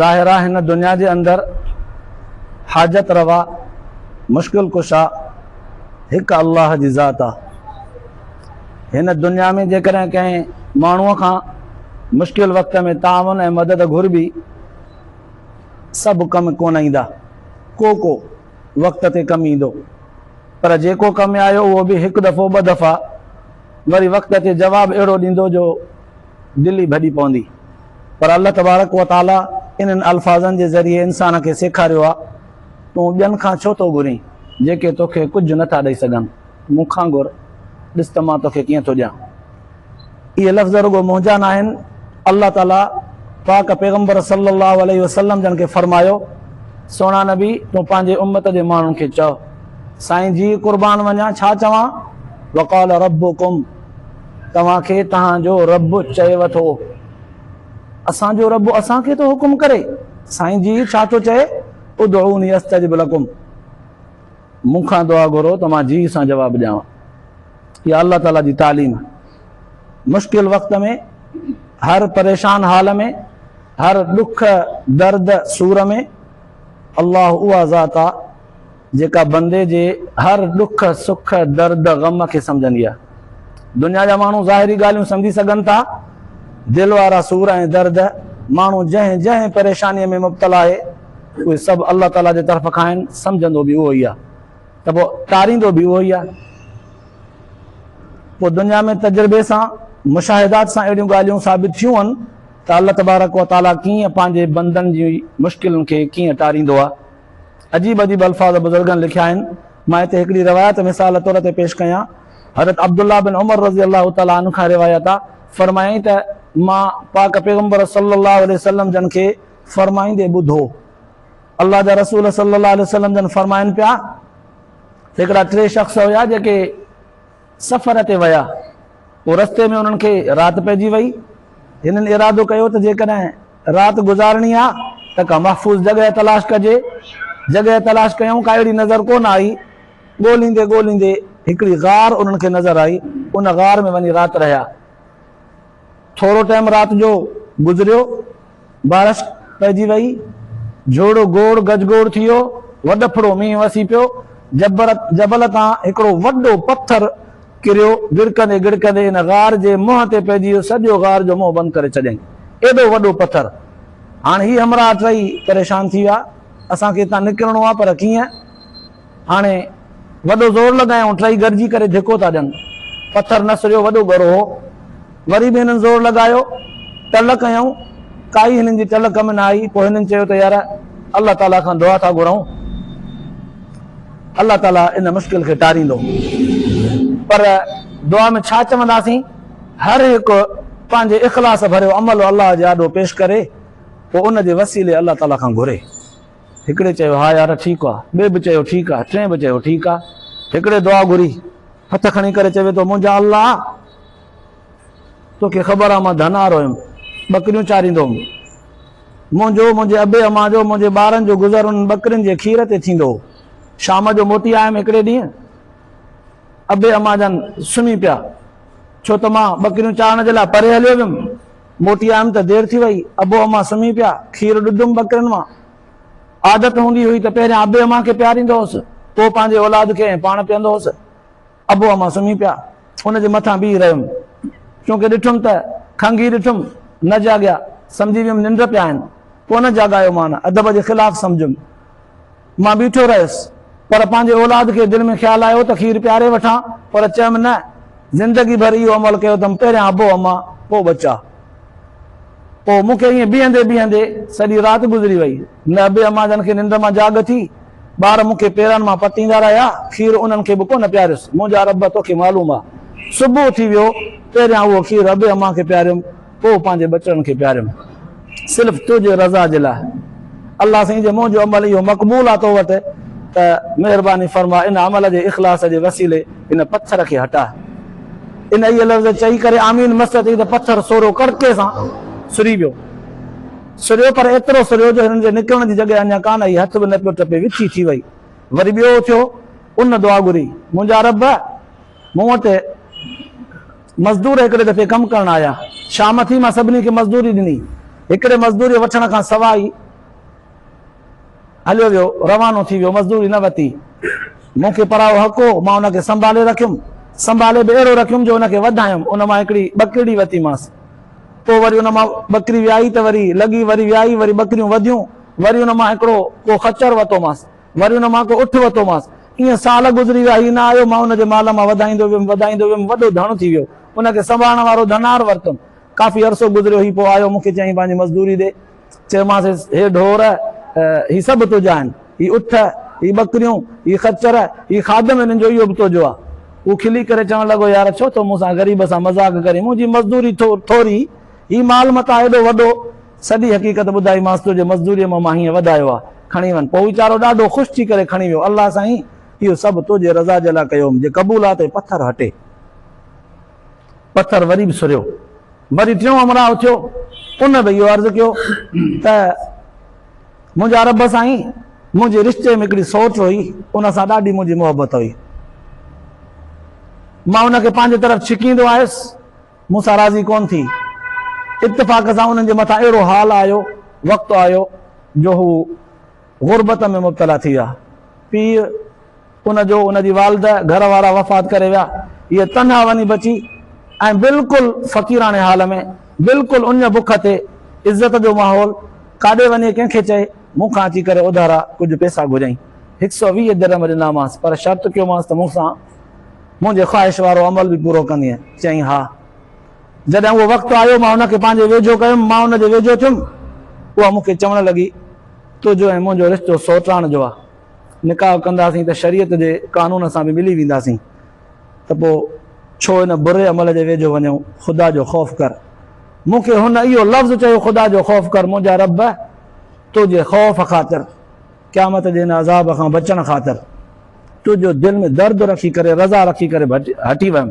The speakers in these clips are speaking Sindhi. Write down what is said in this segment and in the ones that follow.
ظاهر آ هن دنيا جي اندر حاجت روا مشڪل ڪشا هڪ الله جي ذات آ هن دنيا ۾ جيڪڏهن ڪنهن ماڻهوء کان مشڪل وقت ۾ تعاون ۽ مدد گهربي سڀ ڪم ڪونه ايندا ڪو ڪو وقت تي ڪم ايندو پر جيڪو ڪم آيو اهو به هڪ دفعو ٻه دفعا وري وقت تي جواب اهڙو ڏيندو جو دل ئي ڀڄي پوندي. پر الله تبارڪ و تعاليٰ انهن الفاظن جي ذريعي انسان کي سيکاريو آهي، تون ٻين کان ڇو ٿو گهرين، جيڪي توکي ڪجهه نه ٿا ڏئي سگهن، مون کان گهر، ڏس ته مان توکي ڪيئن ٿو ڏيان. اهي لفظ رڳو منهنجا ناهن، الله تعاليٰ پاڪ پيغمبر صلّي اللّٰه عليه وسلّم جن کي فرمايو، سهڻا نبي تون پنهنجي امّت جي ماڻهن کي چئه، سائين جيء قربان وڃان ڇا چوان، وقال ربّڪم. توهان کي توهان جو رب چيو ٿو. اسان جو رب اسان کي ٿو حڪم ڪري. سائين جي ڇا ٿو چئي ادعوني استجب لڪم مون کان دعا گهرو ته مان جي سان جواب ڏيان. اها الله تعالي جي تعليم آهي. مشڪل وقت ۾ هر پريشان حال ۾ هر ڏک درد سور ۾ الله اها ذات آهي. جيڪا بندي جي هر ڏک، سک، درد، غم کي سمجهندي آهي. دنيا جا ماڻهو ظاهري ڳالهيون سمجهي سگهن ٿا، دل وارا سور ۽ درد، ماڻهو جنهن جنهن پريشانيء ۾ مبتلا آهي، اهي سڀ الله تعاليٰ جي طرف کان آهن، سمجهندو به اهو ئي آهي ته پوء ٽاريندو به اهو ئي آهي. پوء دنيا ۾ تجربي سان، مشاهدات سان اهڙيون ڳالهيون ثابت ٿيون آهن ته الله تبارڪ وتعاليٰ ڪيئن پنهنجي بندن جي مشڪلن کي ڪيئن ٽاريندو آهي. عجيب عجيب الفاظ بزرگن لکيا آهن، مان هتي هڪڙي روايت مثال طور تي پيش ڪيان، حضرت عبدالله بن عمر رضي الله تعالٰي عنه کان روايت آ، فرمايائين ته مان پاڪ پيغمبر صلّي اللّٰه عليه وسلّم جن کي فرمائيندي ٻڌو، الله جا رسول صلّي اللّٰه عليه وسلّم جن فرمائن پيا، هڪڙا ٽي شخص هيا جيڪي سفر تي ويا، پوء رستي ۾ انهن کي رات پئجي وئي، هنن ارادو ڪيو ته جيڪڏهن رات گذارڻي آ ته ڪا محفوظ جڳهه تلاش ڪجي. جڳهه تلاش ڪيائون ڪا اهڙي نظر ڪونه آئي. ڳوليندي ڳوليندي هڪڙي غار انهن کي نظر آئي. ان غار ۾ وڃي رات رهيا. ٿورو ٽيم رات جو گذريو. بارش پئجي وئي. جهوڙو گوڙ گجگوڙ ٿي ويو. وڏڦڙو مينهن وسي پيو. جبل تان هڪڙو وڏو پٿر ڪريو، گڙڪندي گڙڪندي ان غار جي منهن تي پئجي ويو، سڄو غار جو منهن بند ڪري ڇڏيائين، ايڏو وڏو پٿر! هاڻ هي همراهه ٽئي پريشان ٿي ويا، اسان کي هتان نڪرڻو آهي پر ڪيئن؟ هاڻي وڏو زور لڳايائون، ٽئي گڏجي ڪري ڌڪو ٿا ڏين، پٿر نسريو وڏو ڳرو هو. وري به هنن زور لڳايو، ٽل ڪيائون، ڪائي هنن جي ٽل ڪم نه آئي، پوء هنن چيو ته يار الله تعاليٰ کان دعا ٿا گهرئون، الله تعاليٰ ان مشڪل کي ٽاريندو، پر دعا ۾ ڇا چونداسين، هر هڪ پنهنجي اخلاص ڀريو عمل الله جي آڏو پيش ڪري، پوء ان جي وسيلي الله تعاليٰ کان گهري. هڪڙي چيو ها يار ٺيڪ آ، ٻئي به چيو ٺيڪ آ، ٽئين به چيو ٺيڪ آ، هڪڙي دعا گهري، هٿ کڻي ڪري چوي ٿو منهنجا الله! توکي خبر آ مان ڌنار هيم، ٻڪريون چاريندو هوم. منهنجو، منهنجي ابي امان جو، منهنجي ٻارن جو گذر انهن ٻڪرين جي کير تي ٿيندو هو. شام جو موٽي آيم هڪڙي ڏينهن، ابي امان جن سمهي پيا، ڇو ته مان ٻڪريون چارڻ جي لاء پري هليو ويم. موٽي آيم ته دير ٿي وئي، ابو امان سمهي پيا، کير ڏڌم ٻڪرين مان. عادت هوندي هئي ته پهريان ابي امان کي پياريندو هوس، پوء پنهنجي اولاد کي ۽ پاڻ پيئندو هوس. ابو امان سمهي پيا. ان جي مٿان بيهي رهيم. چونڪه ڏٺم ته کنگهي ڏٺم. نه جاڳيا. سمجهي ويم ننڊ پيا آهن. ڪونه جاڳايومان. ادب جي خلاف سمجهيم. مان بيٺو رهيس. پر پنهنجي اولاد کي دل ۾ خيال آيو ته کير پياري وٺان. پر چيم نه. زندگي ڀر اهو عمل ڪيو اٿم. پهريان ابو امان. پوء ٻچا. پوء مون کي ائين بيهندي بيهندي سڄي رات گذري وئي. نه ابي امان جان کي ننڊ مان جاڳ اٿي. ٻار مون کي پيران مان پٽيندا رهيا. کير انهن کي به ڪونه پياريس. منهنجا رب توکي معلوم آ. صبح اٿي ويو. پهريان اهو کير ابي امان کي پياريم. پوء پنهنجي ٻچڙن کي پياريم. صرف تنهنجي رضا جي لاء. الله سائين جي منهنجو عمل اهو مقبول آ تو وٽ ته مهرباني فرما ان عمل جي اخلاص جي وسيلي هن پٿر کي هٽاء. ان اهي لفظ چئي ڪري آمين مس ٿي ته پٿر سورو ڪڙڪي سان سري ويو. سريو پر ايترو سريو جو هنن جي نڪرڻ جي جڳهه اڃا ڪانه آئي، هٿ به نه پيو ٽپي، وچي ٿي وئي. وري ٻيو اٿيو، ان دعا گهري، منهنجا رب! مون وٽ مزدور هڪڙي دفعي ڪم ڪرڻ آيا، شام ٿي مان سڀني کي مزدوري ڏني، هڪڙي مزدوريء وٺڻ کان سواء ئي، هليو ويو، روانو ٿي ويو، مزدوري نه وتي. مون کي پرايو حق هو، مان ان کي سنڀالي رکيم. سنڀالي به اهڙو رکيم جو ان کي وڌايم. ان مان هڪڙي ٻڪرڙي وتيمانس. پوء وري ان مان ٻڪري ويائي ته وري لڳي، وري ويائي، وري ٻڪريون وڌيون. وري ان مان هڪڙو ڪو خچر وتومانس. وري ان مان ڪو اٺ وتومانس. ايئن سال گذري ويا، هي نه آيو. مان ان جي مال مان وڌائيندو ويم، وڌائيندو ويم، وڏو ڌڻ ٿي ويو. ان کي سنڀالڻ وارو ڌنار ورتم. ڪافي عرصو گذريو، هي پوء آيو، مون کي چيائين پنهنجي مزدوري ڏي. چيومانس، هي ڍور، هي سڀ تنهنجا آهن. هي اٺ، هي ٻڪريون، هي خچر، هي خادم هنن جو اهو به تنهنجو آ. هو کلي ڪري چوڻ لڳو، يار ڇو ٿو مون سان غريب سان مذاق ڪرين، منهنجي مزدوري ٿوري، هي مال متاع ايڏو وڏو. سڄي حقيقت ٻڌائيمانس، تنهنجي مزدوريء مان مان هينئن وڌايو آ، کڻي وڃ. پوء ويچارو ڏاڍو خوش ٿي ڪري کڻي ويو. الله سائين! اهو سڀ تنهنجي رضا جي لاء ڪيوم، جي قبول آ ته هي پٿر هٽي. پٿر وري به سريو. وري ٽيون همراهه اٿيو، ان به اهو عرض ڪيو ته منهنجا رب سائين! منهنجي رشتي ۾ هڪڙي سوٽ هئي، ان سان ڏاڍي منهنجي محبت هئي. مان ان کي پنهنجي طرف ڇڪيندو آيس، مون سان راضي ڪونه ٿي. اتفاق سان انهن جي مٿان اهڙو حال آيو، وقت آيو، جو هو غربت ۾ مبتلا ٿي ويا. پيء! ان جو ان جي والده، گهر وارا وفات ڪري ويا. هيء تنها وڃي بچي ۽ بلڪل فقيراڻي حال ۾، بلڪل اڃ بک تي، عزت جو ماحول، ڪاڏي وڃي ڪنهن کي چئي؟ مون کان اچي ڪري اڌارا ڪجهه پيسا گهريائين. هڪ سؤ ويهه درهم ڏنامانس، پر شرط ڪيومانس ته مون سان منهنجي خواهش وارو عمل به پورو ڪندينء؟ چيائين، ها. جڏهن اهو وقت آيو، مان ان کي پنهنجي ويجهو ڪيم، مان ان جي ويجهو ٿيم، اها مون کي چوڻ لڳي، تنهنجو ۽ منهنجو رشتو سوٽراڻ جو آ. نڪاح ڪنداسين ته شريعت جي قانون سان به ملي وينداسين ته پوء ڇو ان بري عمل جي ويجهو وڃون؟ خدا جو خوف ڪر. مون کي هن اهو لفظ چيو خدا جو خوف ڪر منهنجا رب تو جي خوف خاطر، قيامت جي ان عذاب کان بچڻ خاطر تو جو دل ۾ درد رکي ڪري رضا رکي ڪري هٽي ويم.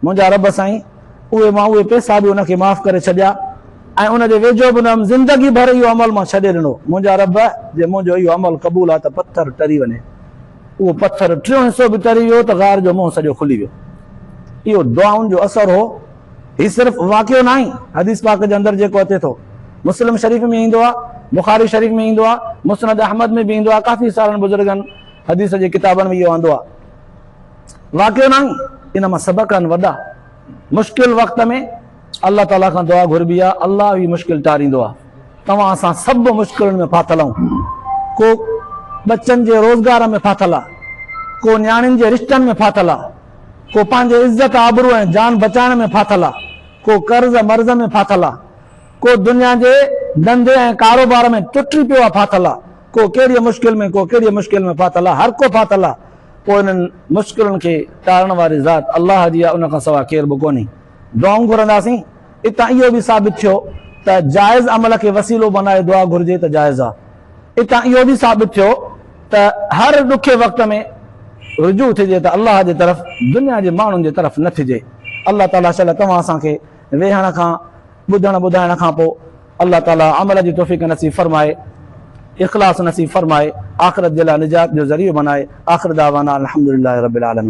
منهنجا رب سائين! اهي مان اهي پئسا به ان کي معاف ڪري ڇڏيا ۽ ان جي ويجهو به نه هيم، زندگي ڀر اهو عمل مان ڇڏي ڏنو. منهنجا رب! جي منهنجو اهو عمل قبول آ ته پٿر ٽري وڃي. اهو پٿر ٽيون حصو به ٽري ويو ته غار جو منهن سڄو کلي ويو. اهو دعائن جو اثر هو. هي صرف واقعو ناهي، حديث پاڪ جي اندر جيڪو اچي ٿو. مسلم شريف ۾ ايندو آ، بخاري شريف ۾ ايندو آ، مسند احمد ۾ به ايندو آ، ڪافي سارن بزرگن حديث جي ڪتابن ۾ اهو آندو آ. واقعو ناهي ان مان سبق آهن وڏا مشڪل وقت ۾ الله تعالي کان دعا گهربي آهي الله هي مشڪل ٽاريندو آهي توهان اسان سڀ مشڪلن ۾ ڦاٿل آهيون ڪو ٻچن جي روزگار ۾ ڦاٿل آهي ڪو نياڻين جي رشتن ۾ ڦاٿل آهي ڪو پنهنجي عزت آبرو ۽ جان بچائڻ ۾ ڦاٿل آهي ڪو قرض مرض ۾ ڦاٿل آهي ڪو دنيا جي ڌنڌي ۽ ڪاروبار ۾ ٽٽي پيو آهي ڦاٿل آهي ڪو ڪهڙي مشڪل ۾ ڪو ڪهڙي مشڪل ۾ ڦاٿل آهي هر ڪو ڦاٿل آهي پوء انهن مشڪلن کي ٽارڻ واري ذات الله جي آهي ان کان سواء ڪير به ڪونهي. دعائون گهرنداسين، اتان اهو به ثابت ٿيو ته جائز عمل کي وسيلو بنائي دعا گهرجي ته جائز آهي. اتان اهو به ثابت ٿيو ته هر ڏکي وقت ۾ رجوع ٿجي ته الله جي طرف دنيا جي ماڻهن جي طرف نه ٿجي. الله تعاليٰ شل توهان اسان کي ويهڻ کان ٻڌڻ ٻڌائڻ کانپوء الله تعالي عمل جي توفيق نصيب فرمائي اخلاص نصيب فرمائي آخرت جي لاء نجات جو ذريعو بنائي آخر دعوانا الحمدلله رب العالمين.